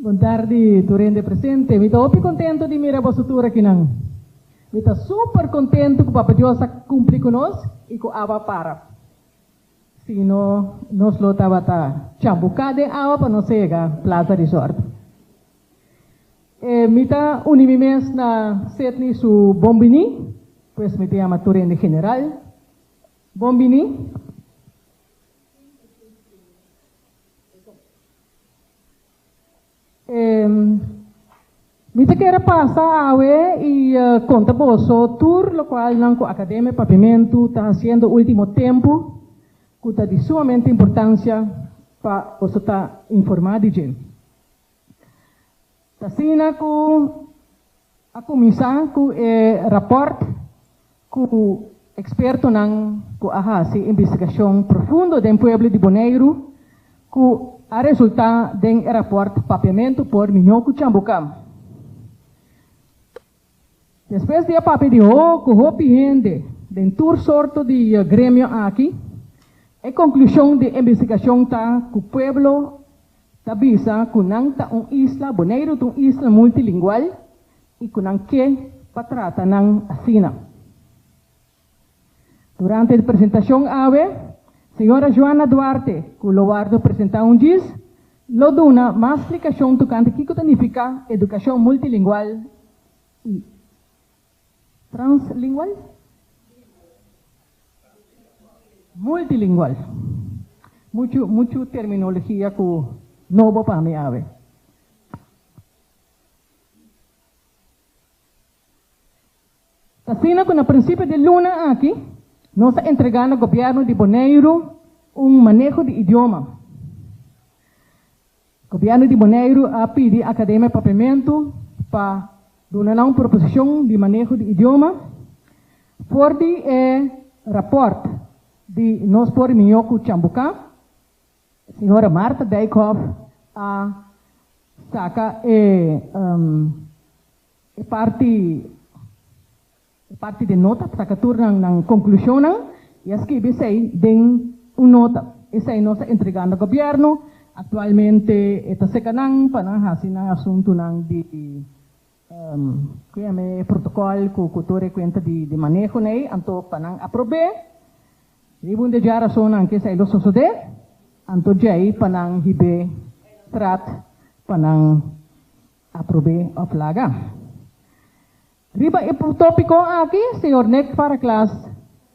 Bon tardi tur hende presente. Mi ta hopi contento di mira boso tur akinan. Mi ta super contento cu Papa Dios a cumpli cu nos y cu awa a para. Si no, nos lo tabata chabuca den awa pa nos a yega Plaza Resort. E mi ta uni mi mes na Setni su bon bini, pues mi ta yama tur hende general, Bon bini. Mi ta kere pasa awe i konta boso tur lokual nan ku Akademia e Papimentu ta hasiendo último tempu ku ta di sumamente importansia pa boso ta informá di dje. T'asina ku a kuminsá ku e rapòrt ku ekspertonan ku a hasi investigashon profundo den pueblo di Boneiru ku a resultá den e rapòrt Papiamentu por Miño ku Cambukam. Despues di e papia di hopi hopi hende den tur sorto di gremio aki, e konklushon di e investigashon ta ku pueblo ta bisa ku nan ta un isla, Boneiru ta un isla multilingual, i ku nan ke pa trata nan asina. Durante e presentashon awe, señora Joanna Duarte, ku lo wòrdu presentá un djis, lo duna mas splikashon tokante kiko ta nifiká edukashon multilingual i translingual, multilingual, muchu muchu terminologia ku nobo pa mi awe. Asina ku na prinsipio di luna aki nos a entregá na Gobièrnu di Boneiru un maneho di idioma. Gobièrnu di Boneiru a pidi Akademia Papiamentu pa duna nan un proposishon di maneho di idioma for di e rapòrt di nos por rimió ku Cambucá. Señora Martha Dijkhoff a saka e. E parti e parti den nota pa saka tur nan nan konklushonnan i a skibi esei den un nota. Esei nos a entrega na gobièrnu. Aktualmente e ta seka nan pa nan hasi nan asuntunan di ku yama e protokòl ku ku tur e kuenta di di maneho na ei anto pa nan aprob'é. Riba un di e dje rasonnan ku esei lo sosodé anto djei pa nan hib'é trat pa nan. Aprobé òf laga. Riba e topiko aki señor Nick Fara Klaas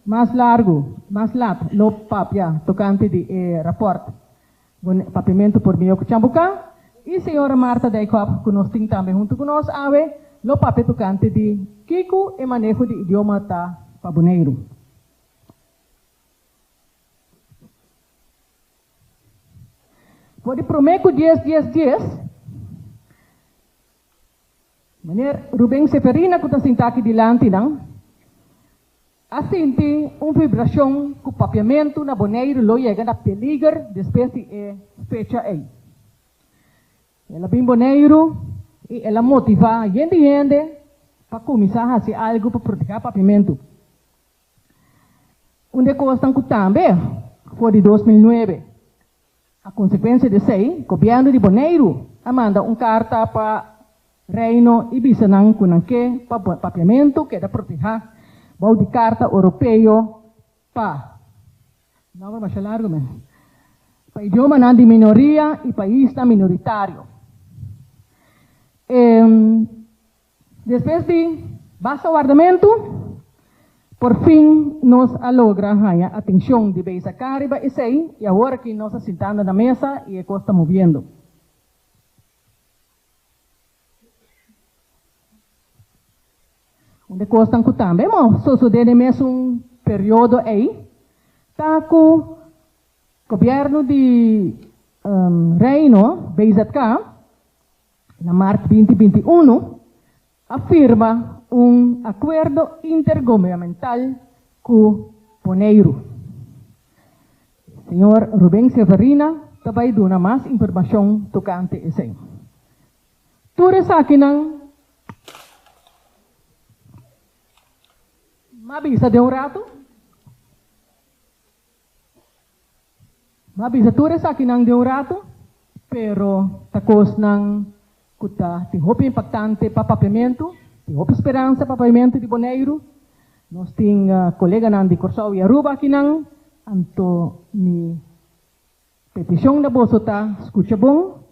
mas largu, mas lat lo papia tokante di e rapòrt Bon Papiamento por Mihó ku Cambucá i señora Marta Dijkhoff ku nos tin tambe huntu ku nos awe lo papia tokante di kico e maneho di idioma ta pa Boneiru. For di promé ku dies dies dies, Meneer Ruben Seferina ku ta sintá aki dilanti nan, a sinti un vibrashon ku papiamentu na Boneiru lo yega na peliger despues di e fecha ei. El a bin Boneiru i el a motivá hende hende pa kuminsá hasi algu pa protegá papiamentu. Un di e kosnan ku tambe for di dos mil nuebe a konsekuensia di esei, gobièrnu di Boneiru a manda un karta pa Reino i bisa nan ku nan ke pa papiamentu keda protehá bou di Karta Oropeo pa Nòmber masha largu men pa idiomanan di minoria i paisnan minoritario. E. Despues di basta wardamentu, por fin nos a logra haña atencion di Beza Can riba esei y awor aki nos a sintando na mesa y e cos ta moviendo. Un de cosnan cu tambe a sosode den e mesun periodo ei ta cu Gobierno di Reino, BZK, na mart binti binti unu, a firma un akuerdo intergubernamental ku Boneiru. Señor Rubén Severina ta bai duna mas informashon tokante esei. Tur esakinan m'a bisa den un ratu. Bo a bisa tur esakinan den un ratu, pero ta kosnan ku ta tin hopi impaktante pa Papiamentu, tin hopi speransa pa Papiamentu di Boneiru. Nos tin koleganan di Kòrsou i Aruba akinan, anto mi Petishon na boso ta skucha bon,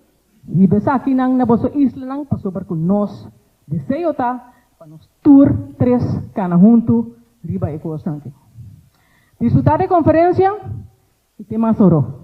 hiba esakinan na boso islanan pasobra ku nos deseo ta pa nos tur tres kana huntu riba e kosnan aki. Disfrutá den konferensia i ten mas oro.